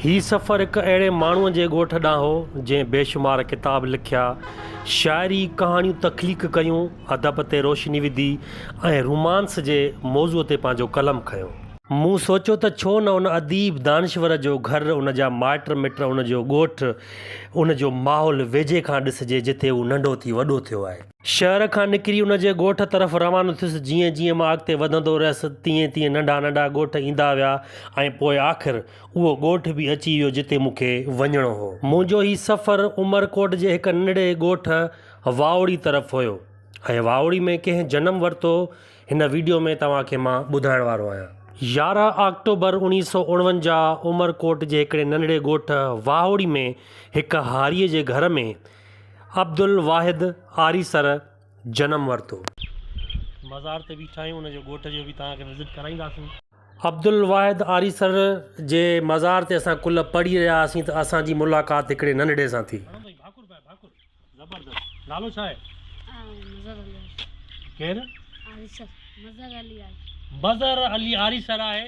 هي سفر هڪ اهڙي ماڻهوء جي ڳوٺ ڏانهن هو، جنهن بيشمار ڪتاب لکيا، شاعري، ڪهاڻيون تخليق ڪيون، ادب تي روشني وڌي ۽ رومانس جي موضوع تي پنهنجو قلم کنيو. مون سوچيو ته ڇو نه ان اديب، دانشور جو گهر، ان جا مائٽ مٽ، ان جو ڳوٺ، ان جو ماحول ويجهي کان ڏسجي، جتي هو ننڍو ٿي وڏو ٿيو آهي. شهر کان نڪري ان جي ڳوٺ طرف روانو ٿيس. جيئن جيئن مان اڳتي وڌندو رهيس، تيئن تيئن ننڍا ننڍا ڳوٺ ايندا ويا ۽ پوء آخر اهو ڳوٺ به اچي ويو جتي مون کي وڃڻو هو. منهنجو هي سفر عمر ڪوٽ جي هڪ ننڍڙي ڳوٺ واوڙي طرف هيو ۽ واوڙي ۾ ڪنهن جنم ورتو هن ويڊيو ۾ توهان کي مان ٻڌائڻ وارو آهيان. يارهن آڪٽوبر اڻيهه سؤ اڻونجاهه عمر ڪوٽ جي هڪڙي ننڍڙي ڳوٺ واهوڙي ۾ هڪ هاريء جي گهر ۾، عبدالواحد آريسر جنم ورتو. مزار تي بيٺا آهيون ان جي ڳوٺ جو به توهان کي وزٽ ڪرائينداسين. عبدالواحد آريسر جي مزار تي اسان ڪل پڙهي رهيا هئاسين ته اسان جي ملاقات هڪڙي ننڍڙي سان ٿي. ڀاڪر پائي ڀاڪر زبردست نالو ڇا آهي؟ مظهر علي آريسر ڪير؟ آريسر مظهر علي آريسر مظهر علي آريسر آهي.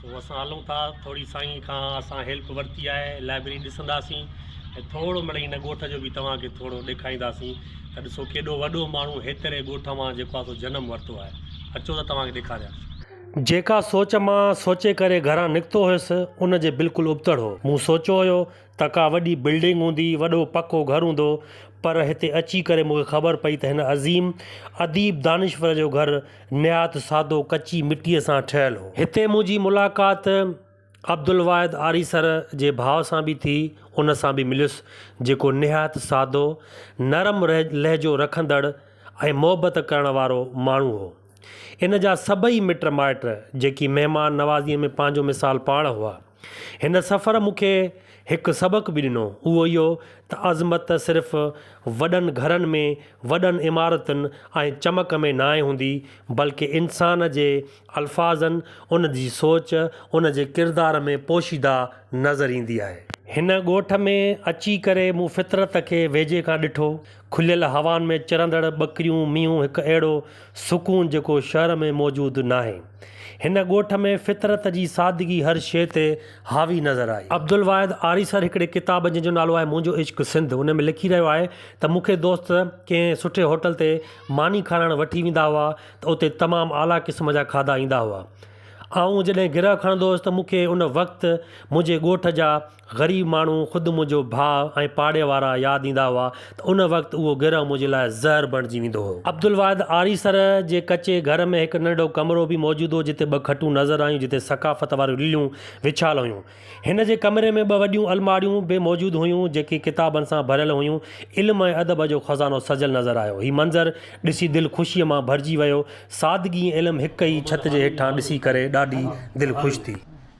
سو اسان هلون ٿا ٿوري سائين کان اسان هيلپ ورتي آهي لائبرري ڏسنداسين ۽ ٿورو مڙئي هن ڳوٺ جو به توهان کي ٿورو ڏيکارينداسين ته ڏسو ڪيڏو وڏو ماڻهو هيتري ڳوٺ مان جيڪو آهي سو جنم ورتو آهي اچو ته توهان کي ڏيکاريان ٿو. جيڪا سوچ مان سوچي ڪري گهران نڪتو هيس ان جي بلڪل ابتڙ هو مون سوچيو هيو ته ڪا وڏي بلڊنگ هوندي، وڏو پڪو گهر هوندو، پر هتي اچي ڪري مون کي خبر پئي ته هن عظيم اديب دانشور جو گهر نهايت سادو ڪچي مٽيء سان ٺهيل هو. هتي منهنجي ملاقات عبدالواحد آريسر جي ڀاء سان به ٿي، ان سان به مليس، جيڪو نهايت سادو، نرم لهجو رکندڙ ۽ محبت ڪرڻ وارو ماڻهو هو. ان جا سڀئي مٽ مائٽ، جيڪي مهمان نوازيء ۾ پنهنجو مثال پاڻ هئا، هن سفر مون کي هڪ سبق به ڏنو، اهو اهو ته عظمت صرف وڏن گهرن ۾، وڏن عمارتن ۽ چمڪ ۾ ناهي هوندي، بلڪه انسان جي الفاظن، ان جي سوچ، ان جي ڪردار ۾ پوشيده نظر ايندي آهي. هن ڳوٺ ۾ اچي ڪري مون فطرت کي ويجهي کان ڏٺو، کليل هوائن ۾ چرندڙ ٻڪريون مينهون هڪ اهڙو سڪون جيڪو شهر ۾ موجود ناهي. هن ڳوٺ ۾ فطرت جي سادگي هر شيء تي حاوي نظر آئي. عبدالواحد آريسر هڪڙي ڪتاب جنهن جو نالو آهي منهنجو عشق سنڌ ان ۾ لکي رهيو آهي ته مون کي دوست ڪنهن سٺي هوٽل تي ماني کارائڻ وٺي ويندا هئا ته اتي تمام اعليٰ قسم جا کاڌا ايندا هئا. آئون جڏهن گرهه کڻندو هوس ته مون کي ان وقت منهنجي ڳوٺ جا غريب ماڻهو، خود منهنجو ڀاء ۽ پاڙي وارا ياد ايندا هئا ته ان وقت اهو گرهه منهنجي لاء زهر بڻجي ويندو هو. عبدالواحد آريسر جي ڪچي گهر ۾ هڪ ننڍو ڪمرو به موجود هو جتي ٻه کٽون نظر آيون جتي ثقافت واريون لليون وڇايل هيون. هن جي ڪمري ۾ ٻه وڏيون الماڙيون به موجود هيون جيڪي ڪتابن سان ڀريل هيون. علم ۽ ادب جو خزانو سجيل نظر آيو. هي منظر ڏسي دل خوشيء مان ڀرجي ويو. سادگي ۽ علم هڪ ئي ڇت جي هيٺان ڏسي ڪري ڏاڍي دل خوش ٿي.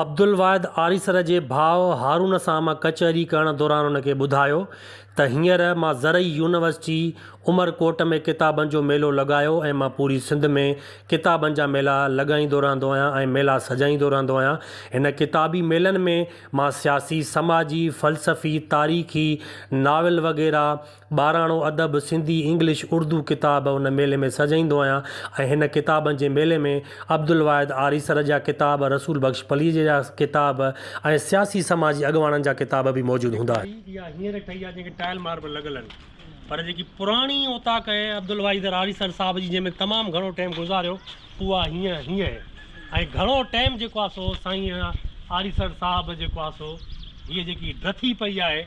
عبدالواحد آريسر جي ڀاء هارون سان مان ڪچهري ڪرڻ دوران ان کي ٻڌايو ته هينئر مان زرعي يونيورسٽي عمر ڪوٽ ۾ ڪتابن جو ميلو لڳايو ۽ مان پوري سنڌ ۾ ڪتابن جا ميلا لڳائيندو رهندو آهيان ۽ ميلا سجائيندو رهندو آهيان. هن ڪتابي ميلن ۾ مان سياسي، سماجي، فلسفي، تاريخي، ناول وغيره ٻاراڻو ادب، سنڌي، انگلش، اردو ڪتاب ان ميلي ۾ سجائيندو آهيان ۽ هن ڪتابن جي ميلي ۾ عبدالواحد آريسر جا ڪتاب، رسول بخش پليجي جا ڪتاب ۽ سياسي سماجي اڳواڻن جا ڪتاب به موجود هوندا آهن. ڳالهه اها هينئر ٺهي آهي جنهن کي ٽائل ماربل لڳل آهن پر جيڪي پراڻي اوطاق آهي عبدالواحد آريسر صاحب جي جنهن ۾ تمام گهڻو ٽيم گذاريو اها هينئر هينئر آهي ۽ گهڻو ٽيم جيڪو آهي سو سائين آريسر صاحب جيڪو آهي سو هيء جيڪي ڊٿي پئي آهي